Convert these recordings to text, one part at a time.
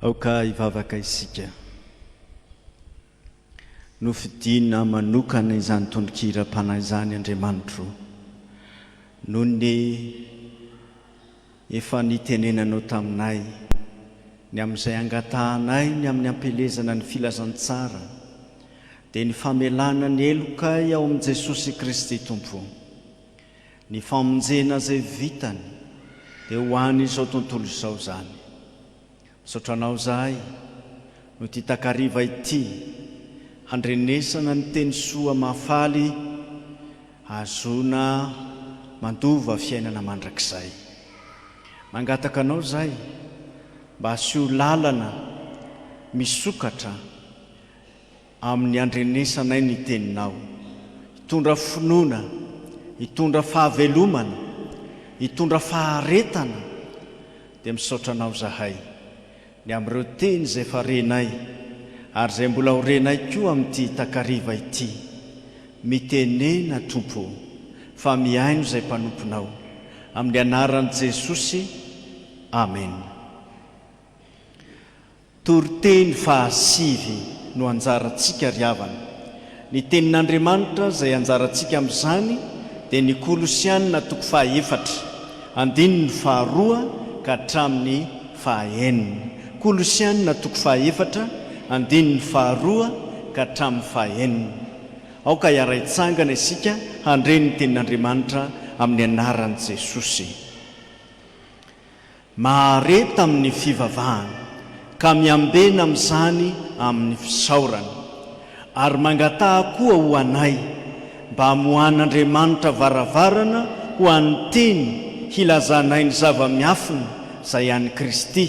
Aoka hivavaka isika. Nofidina manokana izany tononkiram-panahy izany Andriamanitro, noho ny efa nitenenanao taminay, ny amin'izay angatahanay ny amin'ny ampielezana ny filazantsara, dia ny famelana ny helokay ao amin'i Jesosy Kristy Tompo. Ny famonjena izay vitany dia ho an' izao tontolo izao izany. Misaotra anao izahay noho ity takariva ity handrenesana ny teny soa mahafaly ahazoana mandova fiainana mandrakizay. Mangataka anao izahay mba asio lalana misokatra. amin'ny handrenesanay ny Teninao. Hitondra finoana, hitondra fahavelomana, hitondra faharetana, dia misaotra Anao izahay, ny amin'ireo teny izay efa renay, ary izay mbola ho renay koa amin'ity takariva ity. Mitenena, Tompo ô, fa mihaino izay mpanomponao. Amin'ny Anaran'i Jesosy, amena. Toriteny faha sivy no anjarantsika ry havana. Ny tenin'Andriamanitra izay anjarantsika amin'izany dia ny Kolosiana toko faha efatra, andininy faha roa ka hatramin'ny faha enina. Kolosiana toko faha efatra, andininy faha roa ka hatramin'ny faha enina. Aoka hiara-hitsangana isika handre ny tenin'Andriamanitra amin'ny anaran'i Jesosy. Mahareta amin'ny fivavahana, ka miambena amin'izany amin'ny fisaorana. Ary mangataha koa ho anay, mba hamoahan'Andriamanitra varavarana ho an'ny teny hilazanay ny zava-miafina izay an'i Kristy,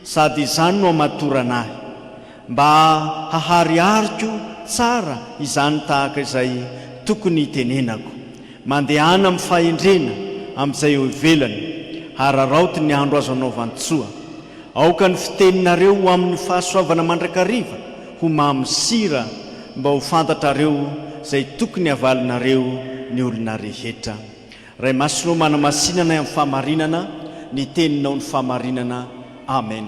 sady izany no hamatorana ahy. Mba haharihariko tsara izany tahaka izay tokony hitenenako. Mandehana amin'ny fahendrena amin'izay eo ivelany. Hararaoty ny andro azo anaovan-tsoa. Aoka ny fiteninareo ho amin'ny fahasoavana mandrakariva, ho mamy sira, mba ho fantatrareo izay tokony havalinareo ny olona rehetra. Ray Masina ô, manamasina anay amin'ny fahamarinana, ny Teninao ny fahamarinana. Amen.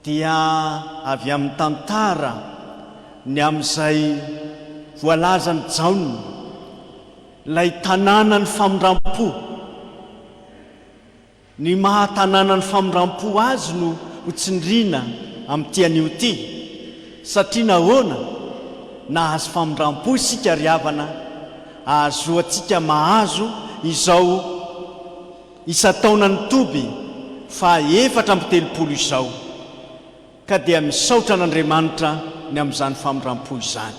dia avy amin'ny tantara ny amin'izay voalazan'i Jaona, ilay tanànan'ny famindram-po. Ny maha tanànan'ny famindram-po azy no ho tsindriana amin'ity anio ity. Satria nahoana? Nahazo famindram-po isika ry havana, ahazoantsika mahazo izao. Isan-taona ny toby faha efatra amby telopolo izao ka dia misaotra an'Andriamanitra ny amin'izany famindram-po izany.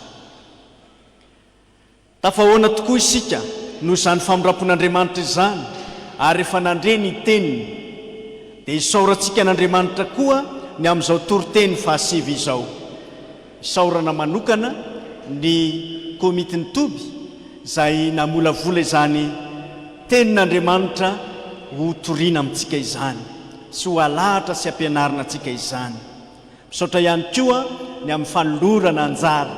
Tafahoana tokoa isika noho izany famindram-pon'Andriamanitra izany ary rehefa nandre ny Teniny dia isaorantsika an'Andriamanitra koa ny amin'izao toriteny faha sivy izao. Isaorana manokana ny Komitin'ny Toby izay namolavola izany Tenin'Andriamanitra ho toriana amintsika izany sy ho alahatra sy ampianarina antsika izany. Misaotra ihany koa ny amin'ny fanolorana anjara.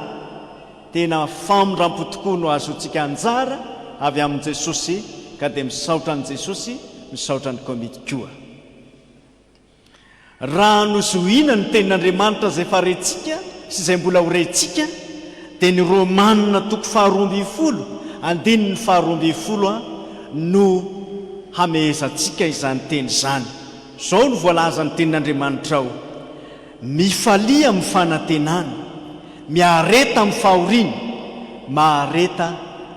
Tena famindrampo tokoa no azontsika anjara avy amin'i Jesosy ka dia misaotra an'i Jesosy, misaotra ny Komity koa. Raha nozohiana ny Tenin'Andriamanitra izay efa rentsika sy izay mbola ho rentsika, dia ny Romana toko faharoa ambin'ny folo, andininy faharoa ambin'ny folo a, no hamehezantsika izany teny izany. Izao no voalazan'ny Tenin'Andriamanitra ao, Mifalia amin'ny fanantenana. Miareta amin'ny fahoriana, mahareta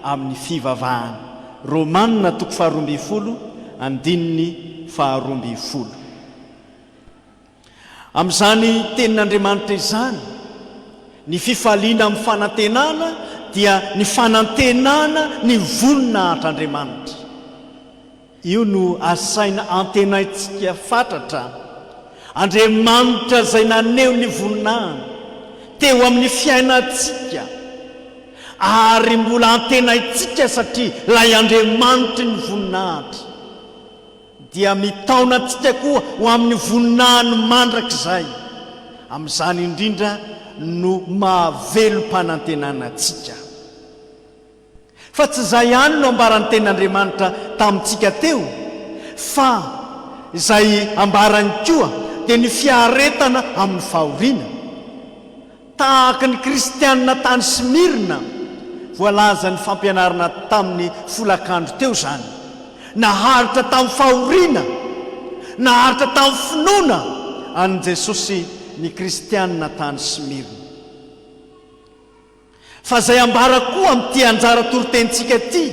amin'ny fivavahana. Romana toko faharoa ambin'ny folo, andininy faharoa ambin'ny folo. Amin'izany Tenin'Andriamanitra izany, ny fifaliana amin'ny fanantenana dia ny fanantenana ny voninahitra Andriamanitra. Io no asaina antenaintsika fatratra. Andriamanitra izay naneho ny voninahiny teo amin'ny fiainantsika ary mbola antenaintsika satria ilay Andriamanitry ny voninahitra dia mitaona antsika koa ho amin'ny voninahiny mandrakizay. Amin'izany indrindra no mahavelom-panantenana antsika. Fa tsy izay ihany no ambaran'ny Tenin'Andriamanitra tamintsika teo, fa izay ambarany koa dia ny fiaretana amin'ny fahoriana. Tahaka ny Kristianina tany Smyrna voalazan'ny fampianarana tamin'ny folakandro teo izany, naharitra tamin'ny fahoriana, naharitra tamin'ny finoana an'i Jesosy ny Kristianina tany Smyrna. Fa izay ambara koa amin'ity anjara toritenintsika ity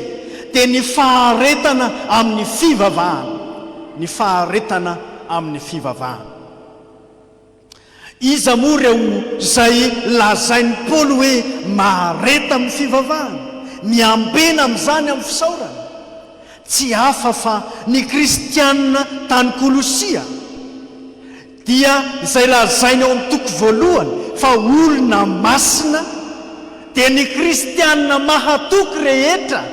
dia ny faharetana amin'ny fivavahana, ny faharetana amin'ny fivavahana. Iza moa ireo izay lazain'i Paoly hoe mahareta amin'ny fivavahana? Miambena amin'izany amin'ny fisaorana? Tsy hafa fa ny kristiana tany Kolosia. dia izay lazainy ao amin'ny toko voalohany fa olona masina, dia ny kristiana mahatoky rehetra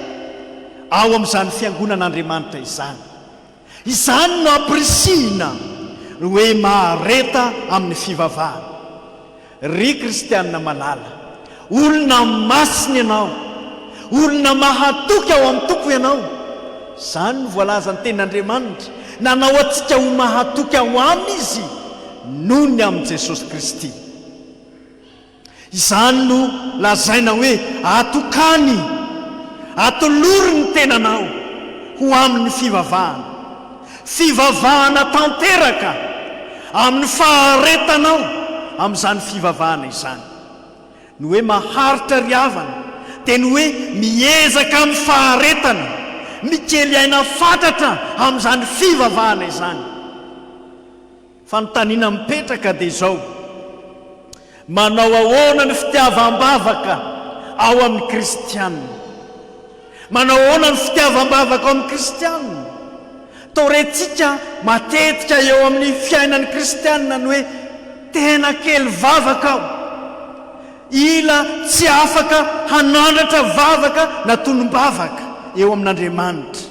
ao amin'izany fiangonan'Andriamanitra izany. Izany no ampirisihina hoe mahareta amin'ny fivavahana. Ry kristianina malala, olona masina ianao, olona mahatoky ao amin'ny Tompo ianao. Izany no voalazan'ny Tenin'Andriamanitra, nanao antsika ho mahatoky ao Aminy Izy noho ny amin'i Jesosy Kristy. Izany no lazaina hoe atokany, atolory ny tenanao ho amin'ny fivavahana. Fivavahana tanteraka amin'ny faharetanao amin'izany fivavahana izany. Ny hoe maharitra ry havana dia ny hoe miezaka amin'ny faharetana, mikely aina fatratra amin'izany fivavahana izany. Fanontaniana mipetraka dia izao, manao ahoana ny fitiavam-bavaka ao amin'ny kristiana? Manao ahoana ny fitiavam-bavaka ao amin'ny kristiana? Toa rentsika matetika eo amin'ny fiainan'ny kristiana ny hoe, tena kely vavaka aho, ila tsy afaka hanandratra vavaka na tonom-bavaka eo amin'Andriamanitra.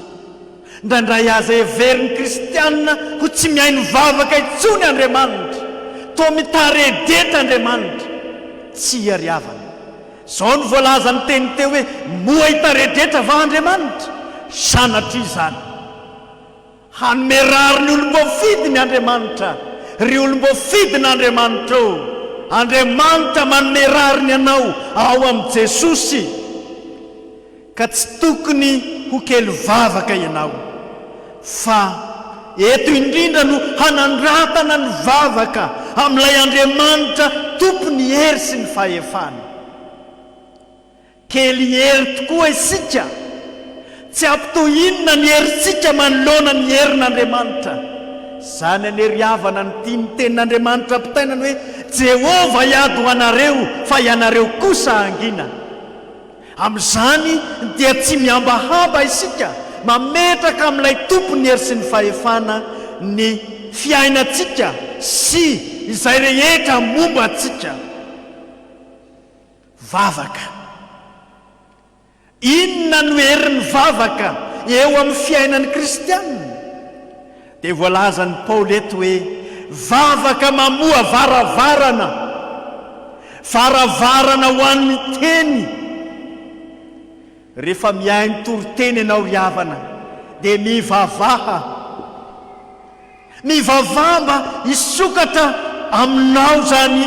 Indraindray aza heverin'ny kristiana ho tsy mihaino vavaka intsony Andriamanitra. Toa mitaredeta Andriamanitra. Tsy iariavana. Izao no voalazan'ny teny teo hoe moa hitaredeta va Andriamanitra? Sanatria izany. Hanome rariny olom-boafidiny Andriamanitra. Ry olom-boafidin'Andriamanitra ô, Andriamanitra manome rariny anao ao amin'i Jesosy. Ka tsy tokony ho kely vavaka ianao, fa eto indrindra no hanandratana ny vavaka amin'ilay Andriamanitra tompon'ny hery sy ny fahefana. Kely hery tokoa isika, tsy ampy toy inona ny herintsika manoloana ny herin'Andriamanitra! Izany anie ry havana no tian'ny Tenin'Andriamanitra ampitaina ny hoe, Jehovah hiady ho anareo, fa ianareo kosa hangina. Amin'izany dia tsy mihambahamba isika mametraka amin'ilay Tompon'ny hery sy ny fahefana ny fiainantsika sy izay rehetra momba antsika. Vavaka. Inona no herin'ny vavaka eo amin'ny fiainan'ny kristiana? Dia voalazan'i Paoly eto hoe vavaka mamoha varavarana, varavarana ho an'ny teny. Rehefa mihaino toriteny ianao ry havana dia mivavaha. Mivavaha mba hisokatra aminao izany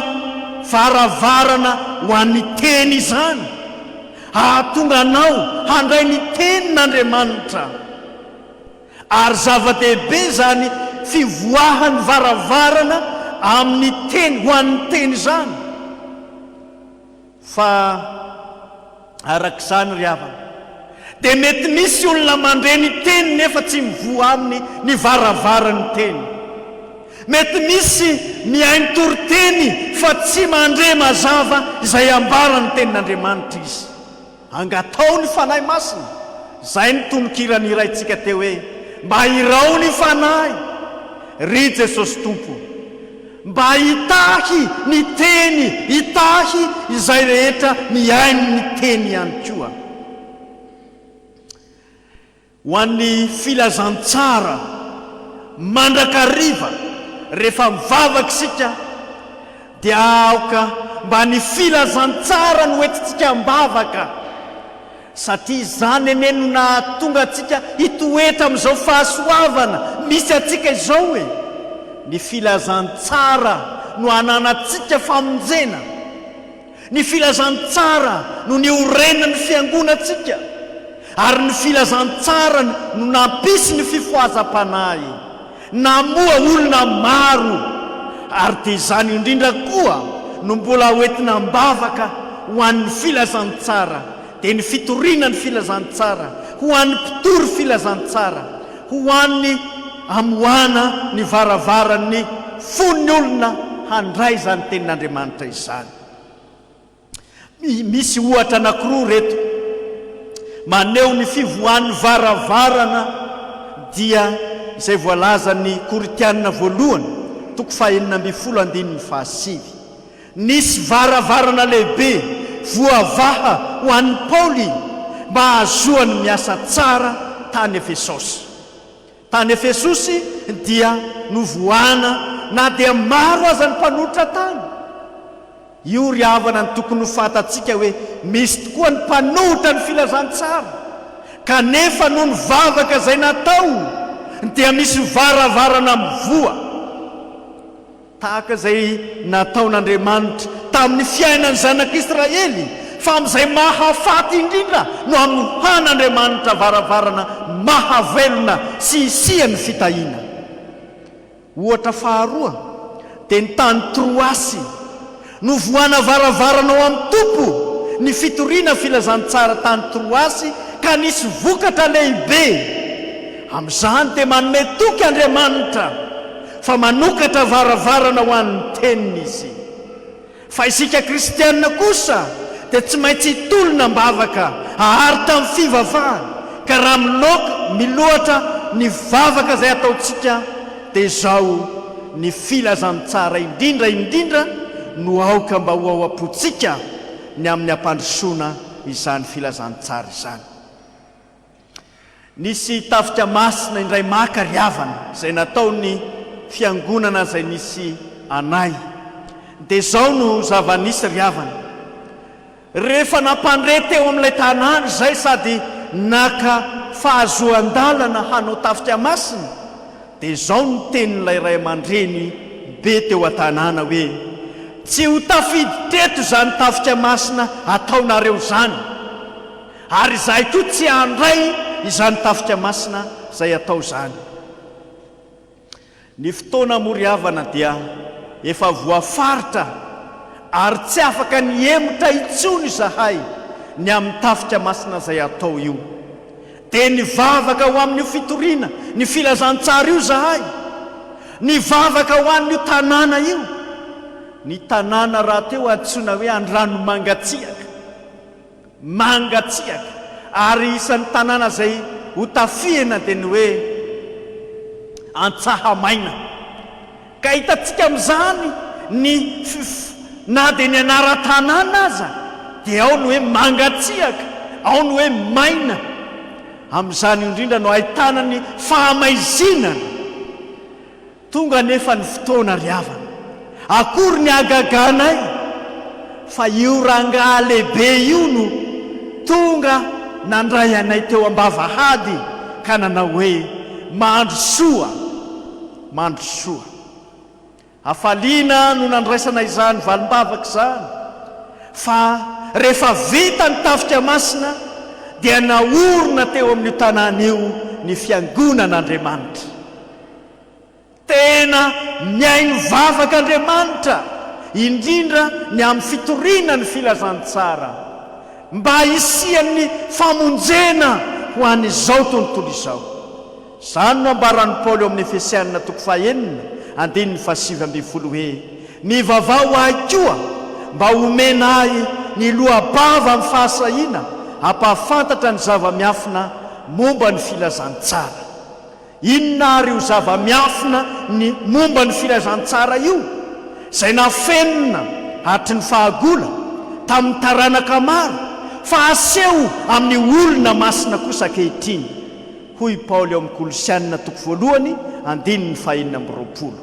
varavarana ho an'ny teny izany, hahatonga anao handray ny tenin'Andriamanitra. Ary zava-dehibe izany fivoahan'ny varavarana amin'ny teny ho an'ny teny izany, fa araka izany ry havana, dia mety misy olona mandre ny teny nefa tsy mivoha aminy ny varavaran'ny teny. Mety misy mihaino toriteny fa tsy mandre mazava izay ambaran'ny Tenin'Andriamanitra izy. Angataho ny Fanahy Masina, izay ny tononkira nihiraintsika teo hoe, Mba irao ny Fanahy, ry Jesosy Tompo, mba hitahy ny Teny, hitahy izay rehetra mihaino ny Teny ihany koa. Ho an'ny filazantsara mandrakariva rehefa mivavaka isika dia aoka mba ny filazantsara no entintsika am-bavaka satria izany anie no nahatonga antsika hitoetra amin'izao fahasoavana misy antsika izao e! Ny filazantsara no ananantsika famonjena. Ny filazantsara no niorenan'ny fiangonantsika, ary ny filazantsarany no nampisy ny fifohazam-panahy. Namoha olona maro, ary dia izany indrindra koa no mbola hoentina am-bavaka ho an'ny filazantsara. dia ny fitoriana ny filazantsara ho an'ny mpitory filazantsara, ho an'ny amoahana ny varavaran'ny fon'ny olona handray izany Tenin'Andriamanitra izany. Misy ohatra anankiroa ireto maneho ny fivoahan'ny varavarana dia izay voalazan'ny Korintiana voalohany toko fahenina ambin'ny folo andininy fahasivy. Nisy varavarana lehibe voavaha ho an'i Paoly mba hahazoany miasa tsara tany Efesosy. Tany Efesosy dia novohana na dia maro aza ny mpanolotra tany. Io ry havana no tokony ho fantatsika hoe misy tokoa ny mpanohitra ny filazantsara, kanefa noho ny vavaka izay natao dia misy varavarana mivoha. tahaka izay nataon'Andriamanitra tamin'ny fiainan'ny zanak'Israely, fa amin'izay mahafaty indrindra no hanohan'Andriamanitra varavarana mahavelona sy hisian'ny fitahiana. Ohatra faharoa dia ny tany Troasy, Novohana varavarana ao amin'ny Tompo ny fitoriana filazantsara tany Troasy ka nisy vokatra lehibe. Amin'izany dia manome toky Andriamanitra fa manokatra varavarana ho an'ny Teniny Izy. Fa isika kristiana kosa dia tsy maintsy hitolona am-bavaka ahary tamin'ny fivavahana ka raha miloaka miloatra ny vavaka izay ataontsika Dia izao ny filazantsara indrindra indrindra no aoka mba ho ao am-pontsika ny amin'ny hampandrosoana izany filazantsara izany. Nisy tafika masina indray maka ry havana izay nataon'ny Fiangonana izay nisy anay. Dia izao no zava-nisy ry havana, Rehefa nampandre teo amin'ilay tanàna izay sady naka fahazoan-dalana hanao tafika masina, dia izao no tenin'ilay ray aman-dreny be teo an-tanàna hoe, Tsy ho tafidy teto izany tafika masina ataonareo izany, ary izahay koa tsy handray izany tafika masina izay atao izany. Ny fotoana moa ry havana dia efa voafaritra ary tsy afaka ny hihemotra intsony izahay ny amin'ny tafika masina izay atao io. Dia nivavaka ho amin'io fitoriana ny filazantsara io izahay, nivavaka ho an'io tanàna io, ny tanàna rahateo antsoina hoe Andranomangatsiaka. Mangatsiaka, ary isan'ny tanàna izay ho tafihina dia ny hoe Antsahamaina. Ka hitantsika amin'izany ny fif, na dia ny anaran-tanàna aza dia ao ny hoe Mangatsiaka, ao ny hoe Maina. Amin'izany io indrindra no ahitana ny fahamaizinana. Tonga anefa ny fotoana ry havana. Akory ny hagagànay fa io rangaha lehibe io no tonga nandray anay teo am-bavahady ka nanao hoe, Mandrosoa! Mandrosoa! Hafaliana no nandraisana izany valim-bavaka izany fa rehefa vita ny Tafika Masina dia naorina teo amin'io tanàna io ny Fiangonan'Andriamanitra. Tena mihaino vavaka Andriamanitra, indrindra ny amin'ny fitoriana ny filazantsara, mba hisian'ny famonjena ho an'izao tontolo izao. Izany no ambaran'i Paoly ao amin'ny Efesiana toko fahenina, andininy fahasivy ambin'ny folo hoe, Mivavaha ho ahy koa, mba homena ahy ny loa-bava amin'ny fahasahiana hampahafantatra ny zava-miafina momba ny filazantsara. Inona àry io zava-miafina ny momba ny filazantsara io, izay nafenina hatry ny fahagola tamin'ny taranaka maro, fa aseho amin'ny olona masina kosa ankehitriny? Hoy Paoly ao amin'ny Kolosiana toko voalohany, andininy fahenina amby roapolo.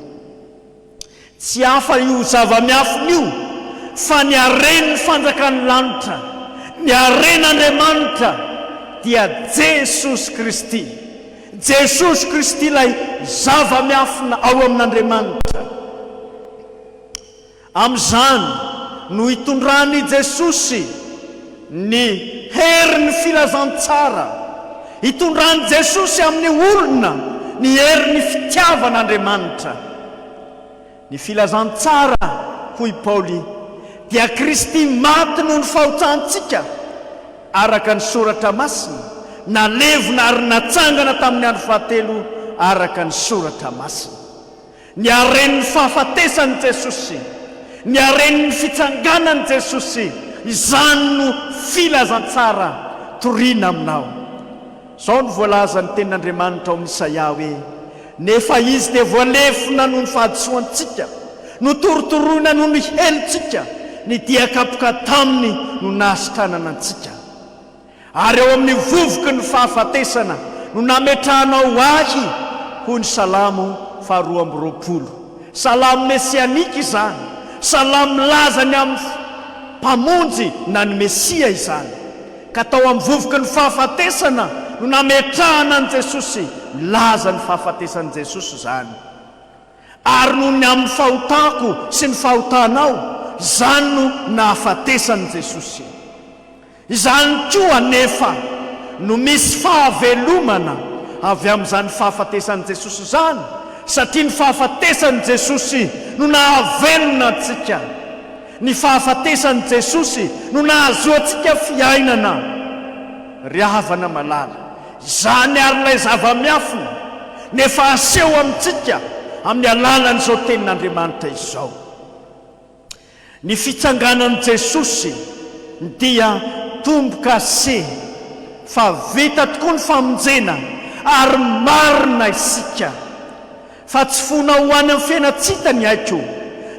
Tsy hafa io zava-miafina io fa ny haren'ny fanjakan'ny lanitra, ny haren'Andriamanitra dia Jesosy Kristy. Jesosy Kristy ilay zava-miafina ao amin'Andriamanitra. Amin'izany no itondran'i Jesosy. Ny herin'ny filazantsara itondran'i Jesosy amin'ny olona ny herin'ny fitiavan'Andriamanitra. Ny filazantsara, hoy i Paoly, dia Kristy maty noho ny fahotantsika, araka ny Soratra Masina, nalevina ary natsangana tamin'ny andro fahatelo, araka ny Soratra Masina. Ny haren'ny fahafatesan'i Jesosy, ny haren'ny fitsanganan'i Jesosy, izany no filazantsara toriana aminao. Izao no voalazan'ny Tenin'Andriamanitra ao amin'ny Isaia hoe, Nefa Izy dia voalefona noho ny fahadisoantsika, notorotoroina noho ny helotsika, nidia kapoka taminy no nahasitranana antsika. Ary ao amin'ny vovoky ny fahafatesana no nametrahanao ahy, hoy ny Salamo faharoa amby roapolo. Salamo mesianika izany, salamo milaza ny amin'ny Mpamonjy na ny Mesia izany. Ka tao amin'ny vovoky ny fahafatesana no nametrahana an'i Jesosy, milaza ny fahafatesan'i Jesosy izany. Ary noho ny amin'ny fahotako sy ny fahotanao, izany no nahafatesan'i Jesosy. Izany koa anefa no misy fahavelomana avy amin'izany fahafatesan'i Jesosy izany, satria ny fahafatesan'i Jesosy no nahavelona antsika. Ny fahafatesan'i Jesosy no nahazoantsika fiainana. Ry havana malala, izany àry ilay zava-miafina, no efa aseho amintsika amin'ny alalan'izao Tenin'Andriamanitra izao. Ny fitsanganan'i Jesosy dia tombo-kase fa vita tokoa ny famonjena ary marina isika fa tsy fona ho any amin'ny fiainantsita ny aiko,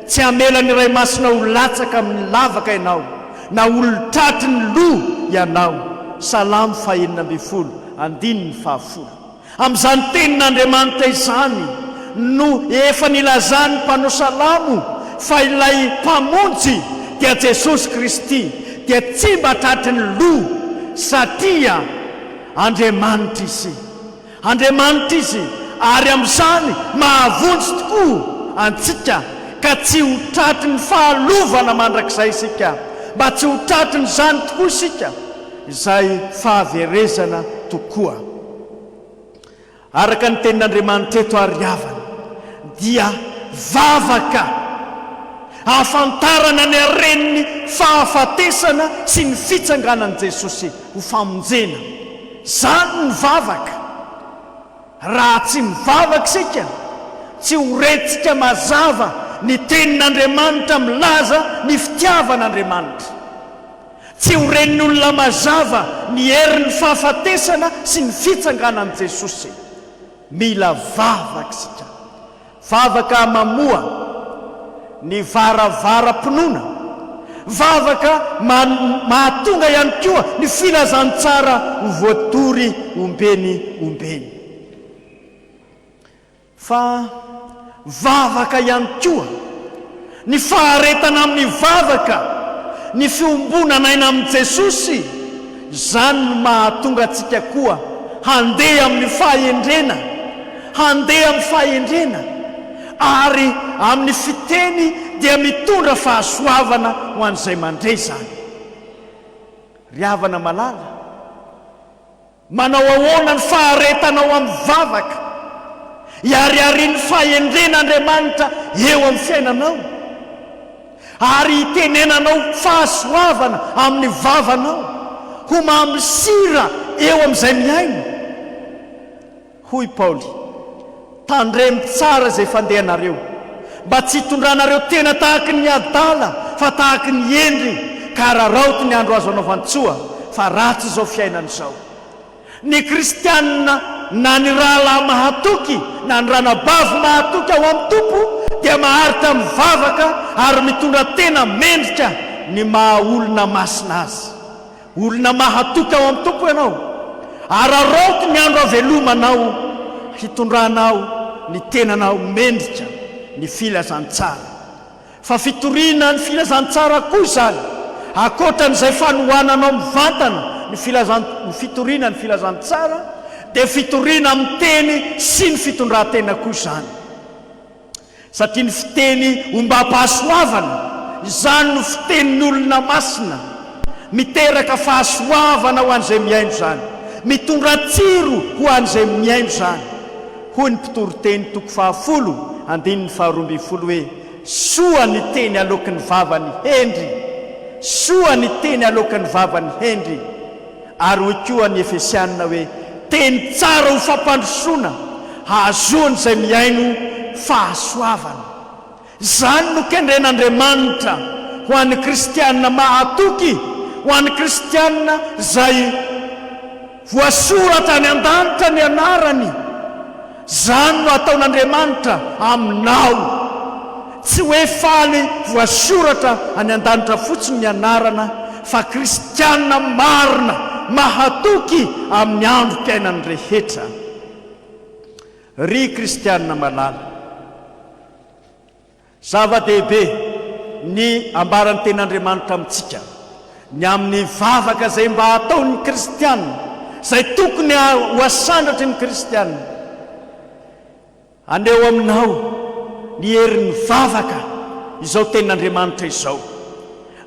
tsy hamela ny Ray Masina ho latsaka amin'ny lavaka ianao na olon-tratry ny loha ianao, Salamo fahenina ambin'ny folo, andininy fahafolo. Amin'izany Tenin'Andriamanitra izany no efa nilazan'ny mpanao salamo fa ilay Mpamonjy dia Jesosy Kristy dia tsy mba tratry ny loha satria Andriamanitra Izy. Andriamanitra Izy ary amin'izany mahavonjy tokoa antsika ka tsy ho tratry ny fahalovana mandrakizay isika, mba tsy ho tratrin'izany tokoa isika izay fahaverezana tokoa. Araka ny tenin'Andriamanitra eto ary havana dia vavaka ahafantarana ny haren'ny fahafatesana sy ny fitsanganan'i Jesosy ho famonjena izany ny vavaka. Raha tsy mivavaka isika, tsy ho rentsika mazava ny tenin'Andriamanitra milaza ny fitiavan'Andriamanitra. Tsy ho ren'ny olona mazava ny herin'ny fahafatesana sy ny fitsanganan'i Jesosy. Mila vavaka isika. Vavaka mamoha ny varavaram-pinoana. Vavaka mahatonga ihany koa ny filazantsara ho voatory ombeny ombeny. Fa vavaka ihany koa, ny faharetana amin'ny vavaka, ny fiombonan'aina amin'i Jesosy, izany no mahatonga antsika koa handeha amin'ny fahendrena, handeha amin'ny fahendrena, ary amin'ny fiteny dia mitondra fahasoavana ho an'izay mandre izany. Ry havana malala, Manao ahoana ny faharetana ao amin'ny vavaka? Ihariharian'ny fahendren' Andriamanitra eo amin'ny fiainanao ary hitenenanao fahasoavana amin'ny vavanao ho mamy sira eo amin'izay mihaino. Hoy Paoly, Tandremo tsara izay fandehanareo, mba tsy hitondranareo tena tahaka ny adala, fa tahaka ny hendry, ka hararaoty ny andro azo anaovan-tsoa, fa ratsy izao fiainana izao. Ny Kristianina, na ny rahalahy mahatoky, na ny ranabavy mahatoky ao amin'ny Tompo, dia maharitra mivavaka ary mitondra tena mendrika ny maha-olona masina azy. Olona mahatoky ao amin'ny Tompo ianao. Araraoty ny andro havelomanao hitondranao ny tenanao mendrika ny filazantsara. Fa fitoriana ny filazantsara koa izany, ankoatran'izay fanohananao mivantana ny filazan ny fitoriana ny filazantsara, dia fitoriana amin'ny teny sy ny fitondran-tena koa izany. Satria ny fiteny ombam-pahasoavana, izany no fitenin'olona masina, miteraka fahasoavana ho an'izay mihaino izany, mitondra tsiro ho an'izay mihaino izany. Hoy ny mpitoriteny toko fahafolo andininy faharoa ambin'ny folo hoe, Soa ny teny aloaky ny vavan'ny hendry, soa ny teny aloaky ny vavan'ny hendry. Ary hoy koa ny Efesiana hoe, Teny tsara ho fampandrosoana, hahazoan'izay mihaino fahasoavana. Izany no kendren'Andriamanitra ho an'ny kristiana mahatoky, ho an'ny kristiana izay voasoratra any an-danitra ny anarany. Izany no ataon'Andriamanitra aminao. Tsy hoe faly voasoratra any an-danitra fotsiny ny anarana, fa kristiana marina mahatoky amin'ny androm-piainany rehetra. Ry kristiana malala. Zava-dehibe ny ambaran'ny Tenin'Andriamanitra amintsika, ny amin'ny vavaka izay mba ataon'ny kristiana, izay tokony ho asandratry ny kristiana. Haneho aminao ny herin'ny vavaka izao Tenin'Andriamanitra izao.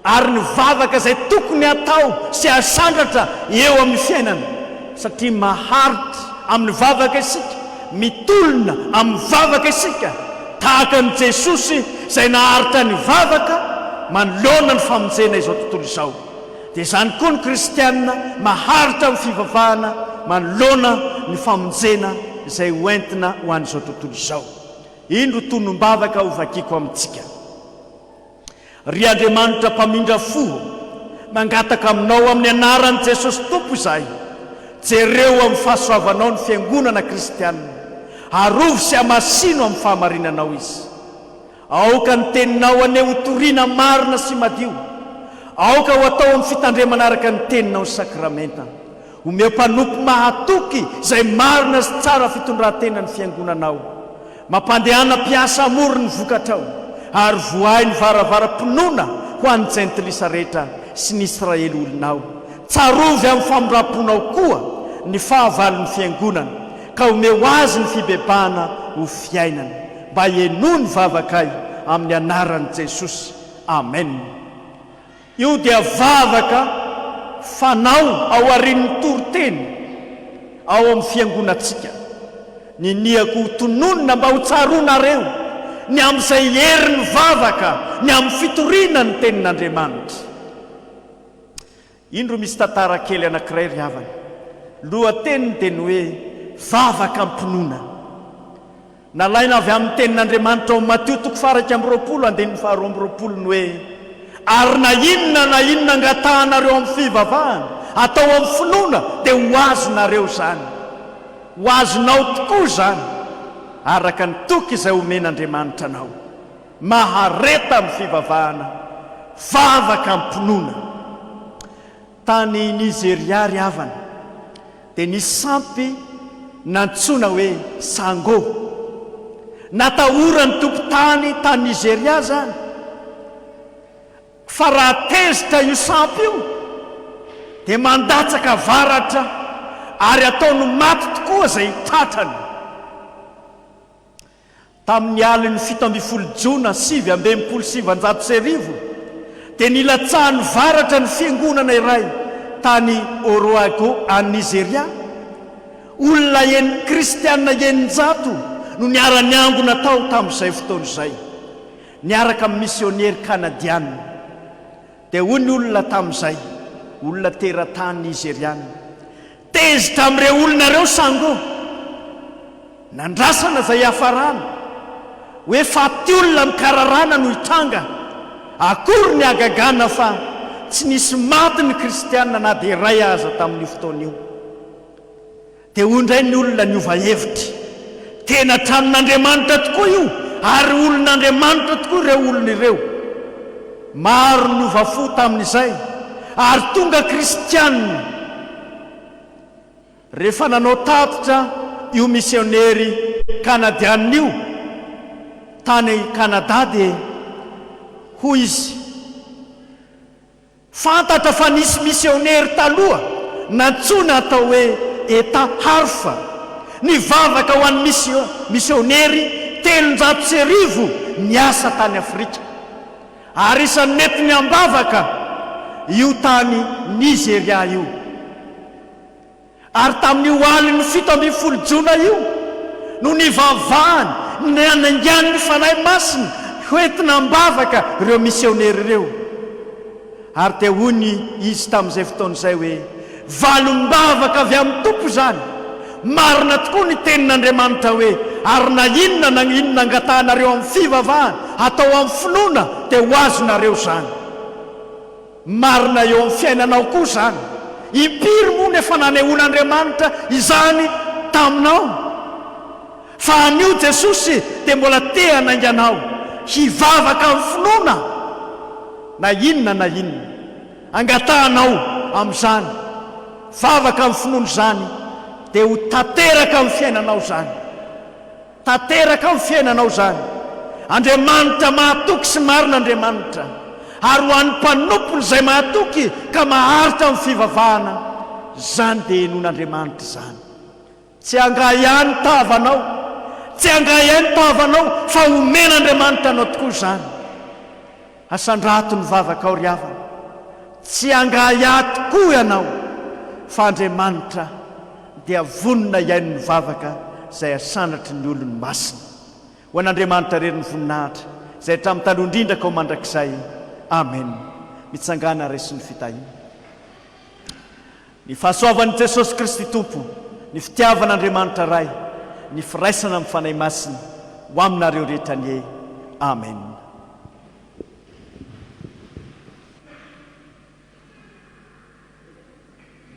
ary ny vavaka izay tokony hatao sy hasandratra eo amin'ny fiainana, satria maharitra amin'ny vavaka isika, mitolona amin'ny vavaka isika, tahaka an'i Jesosy izay naharitra ny vavaka manoloana ny famonjena izao tontolo izao, dia izany koa ny kristiana maharitra amin'ny fivavahana manoloana ny famonjena izay ho entina ho an'izao tontolo izao. Indro tonom-bavaka hovakiko amintsika. Ry Andriamanitra mpamindra fo ô, mangataka aminao amin'ny anaran'i Jesosy Tompo izahay, jereo amin'ny fahasoavanao ny fiangonana kristianina, arovy sy amasino amin'ny fahamarinanao izy. Aoka ny teninao anie ho toriana marina sy madio, aoka ho atao amin'ny fitandremana araka ny teninao ny sakramenta, Omeo mpanompo mahatoky izay marina sy tsara fitondran-tena ny fiangonanao. Mampandehana mpiasa hamory ny vokatrao, ary vohay ny varavaram-pinoana ho an'ny jentilisa rehetra sy ny Israely olonao. Tsarovy amin'ny famindram-ponao koa ny fahavalon'ny fiangonana, ka omeo azy ny fibebahana ho fiainana, mba henoy ny vavakay, amin'ny anaran'i Jesosy. Amena. Io dia vavaka fanao aorian'ny toriteny ao amin'ny fiangonantsika. Niniako ho tononina mba ho tsaroanareo ny amin'izay herin'ny vavaka ny amin'ny fitoriana ny Tenin'Andriamanitra. Indro misy tantara kely anankiray ry havana. Lohateniny dia ny hoe Vavaka am-pinoana. Nalaina avy amin'ny Tenin'Andriamanitra ao Matio toko faha iraika amby roapolo andininy faha roa amby roapolo ny hoe, Ary na inona na inona angatahanareo amin'ny fivavahana, atao amin'ny finoana, dia ho azonareo izany. Ho azonao tokoa izany, araka ny toky izay omen'Andriamanitra anao. Mahareta amin'ny fivavahana, vavaka amim-pinoana. Tany Nizeria àry havana, dia nisy sampy nantsoina hoe Sango. Natahoran'ny tompon-tany tany Nizeria izany, fa raha tezitra io sampy io, dia mandatsaka avaratra ary ataony maty tokoa izay tratrany. Tamin'ny alin'ny fito ambin'ny folo Jona sivy amby enimpolo sy sivinjato sy arivo, dia nilatsahan'ny varatra ny fiangonana iray tany Oroago, any Nizeria. Olona en, kristiana eninjato no niara-niangona tao tamin'izay fotoana izay, niaraka amin'ny misionery kanadiana. Dia hoy ny olona tamin'izay, olona teratany nizeriana, Tezitra amin'ireo olona ireo sango nandrasana izay hiafarana. Hoe faty olona amin'ny kararana no hitranga akory ny hagagana fa tsy nisy maty ny kristiana na dia iray aza tamin'io fotoana io. Dia hoy indray ny olona niova hevitra, Tena tranon'Andriamanitra tokoa io ary olon'Andriamanitra tokoa ireo olona ireo. Maro ny niova fo tamin'izay ary tonga kristiana rehefa nanao tatitra io misionery kanadiana io tany Kanada dia hoy izy, Fantatra fa nisy misionery taloha nantsoina atao hoe Etta Harff nivavaka ho an'ny misionery telonjato sy arivo niasa tany Afrika. Ary isan'ny mety ny ambavaka io tany Nizeria io. Ary tamin'io alin'ny fito ambin'ny folo jona io no nivavahany ny hanaingan'ny Fanahy Masina hoentina ambavaka ireo misionery ireo. Ary dia hoy izy tamin'izay fotoana izay hoe, Valim-bavaka avy amin'ny Tompo izany. Marina tokoa ny tenin'Andriamanitra hoe, Ary na inona na inona angatahanareo amin'ny fivavahana, atao amin'ny finoana, dia ho azonareo izany. Marina eo amin'ny fiainanao koa izany. Impiry moa no efa nanehoan'Andriamanitra izany taminao? Fa anio Jesosy dia mbola te hanainga anao hivavaka amin'ny finoana na inona na inona angatahanao amin'izany vavaka amin'ny finoana izany dia ho tanteraka amin'ny fiainanao izany. Tanteraka amin'ny fiainanao izany. Andriamanitra mahatoky sy marina Andriamanitra ary ho an'ny mpanompony izay mahatoky ka maharitra amin'ny fivavahana izany dia henon'Andriamanitra izany. Tsy hangahy ahy ny tavanao, tsy hangahy ahy ny tavanao, fa homen'Andriamanitra anao tokoa izany. Asandrato ny vavakao ry havana, tsy hangahy ahy tokoa ianao, fa Andriamanitra dia vonona hihaino ny vavaka izay asandratry ny olony masina. Ho an'Andriamanitra irery ny voninahitra, izay hatramin'ny taloha indrindra ka ho mandrakizay. Amena. Mitsangàna ary resy ny fitahiana. Ny fahasoavan'i Jesosy Kristy Tompo, ny fitiavan'Andriamanitra Ray, ny firaisana amin'ny Fanahy Masina ho aminareo rehetra anie. Amen.